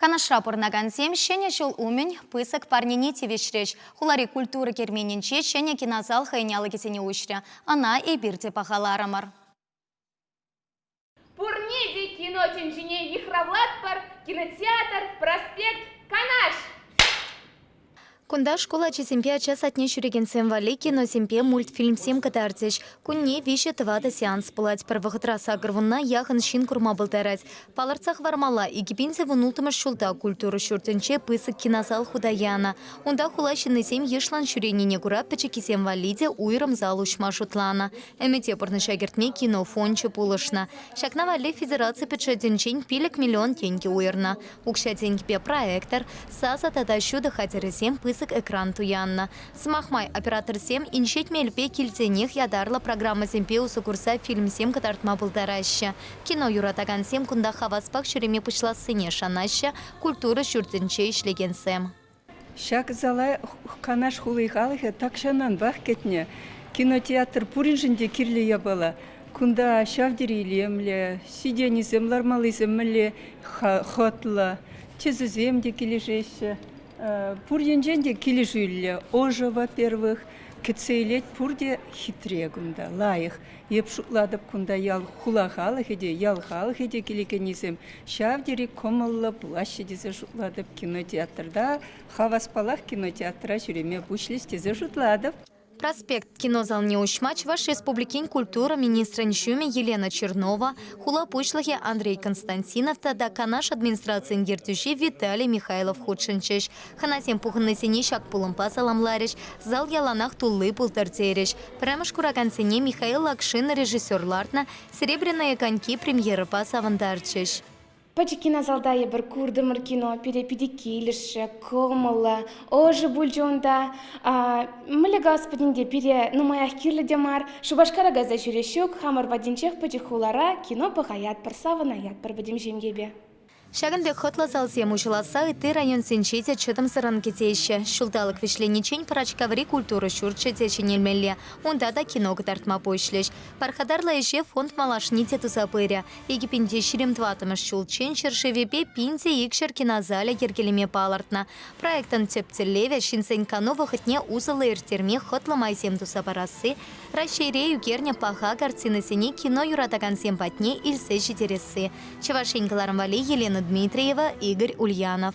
Канашра пурӑнакансем Ҫӗнӗ ҫул умӗн пысӑк парнене тивӗҫрӗҫ. Хулари культура керменӗнче ҫӗнӗ кинозал хӑйӗн алӑкӗсене уҫрӗ. Ӑна эпир те пахаларӑмӑр. Пурне те кино тӗнчине йыхравлатпӑр, кинотеатр, проспект, Канаш! Кунта шкул ачисемпе ача садне ҫӳрекенсем валли киносемпе мультфильмсем кӑтартӗҫ. Кунне виҫӗ-тӑватӑ сеанс пулать. Пӗр вӑхӑтра сакӑр вунна яхӑн ҫын курма пултарать. Палӑртса хӑвармалла, икӗ пин сӗвун ултмӗш ҫулта культура ҫуртӗнче пысӑк кинозал хута янӑ. Унта хула ҫыннисем йышлӑн ҫӳренине кура пӗчӗккисем валли те уйрӑм зал уҫма шутланӑ. Ӗмӗте пурнӑҫа кӗртме кино фончӗ пулӑшнӑ. Ҫакна валли федераци бюджетӗнчен пилӗк миллион тенкӗ уйӑрнӑ. Укҫа-тенкӗпе проектор, сасӑ тата ҫутӑ хатӗрӗсем пысӑк экран туяннӑ. Сӑмах май, операторсем инҫет мелпе килсенех ятарлӑ программӑсемпе усӑ курса фильмсем кӑтартма пултараҫҫӗ, кино юратакансем кунта хаваспах ҫӳреме пуҫлассине шанаҫҫӗ культура ҫуртӗнче ӗҫлекенсем. Ҫак зала Канаш хули халӑхӗ тахҫананпах кӗтнӗ. Кинотеатр пуриншӗн те кирлӗ япала. Кунта ҫав тери илемлӗ, сиденьисем лармаллисем мӗнле хӑтлӑ, тӗсӗсем те килӗшеҫҫӗ. Пур енчен те килӗшӳллӗ. Ӑшӑ, во-первых. Кӗтсе илет пурте хитре кунта, лайӑх. Эп шутлатӑп, кунта ял-хула халӑхӗ те, ял халӑхӗ те килекеннисем ҫав тери кӑмӑллӑ пулаҫҫӗ тесе шутлатӑп. Кинотеатрта, хаваспалах кинотеатра ҫӳреме пуҫлӗҫ тесе шутлатӑп. Проспект кинозалне уҫма Чӑваш Республикин культура министрӗн ҫумӗ Елена Чернова, хула пуҫлӑхӗ Андрей Константинов тата Канаш администрацийӗн ертӳҫи Виталий Михайлов хутшӑнчӗҫ. Хӑнасем пухӑннисене ҫак пулӑмпа саламларӗҫ, зал яланах тулли пултӑр терӗҫ. Пӗрремӗш куракансене Михаил Акшин режиссер лартнӑ Серебряные коньки премьерӑпа савӑнтарчӗҫ. Пӗчӗк кинозалта эпир куртӑмӑр кино пире питӗ килӗшрӗ, кӑмӑллӑ. Ӑшӑ пулчӗ унта. Мӗлле гасподин те пире нумаях кирлӗ те мар. Шупашкара кайса ҫӳреҫҫӗ ҫук, хамӑр патӗнчех пӗчӗк хулара кино пӑхаятпӑр, савӑнаятпӑр пӗтӗм ҫемьепе. Ҫакӑн пек хӑтлӑ залсем уҫӑласса ытти районсенче те чӑтӑмсӑррӑн кӗтеҫҫӗ. Ҫулталӑк вӗҫлениччен Пӑрачкаври культура ҫурчӗ те ҫӗнелмелле, унта та кино кӑтартма пуҫлӗҫ. Пархатарлӑ ӗҫе фонд малашне те туса пырӗ. Икӗпинте ҫирӗм тӑваттӑмӗш ҫулччен ҫӗршывӗпе пин те икҫӗр кинозалӗ йӗркелеме палӑртнӑ. Проектӑн тӗп тӗллевӗ ҫынсен кану вӑхӑтне усӑллӑ ирттерме хӑтлӑ майсем туса парасси, Раҫҫейре ӳкернӗ паха картинӑсене кино юратакансем патне илсе ҫитересси, Чӑваш Ен кӑларӑм валли Елена Дмитриева, Игорь Ульянов.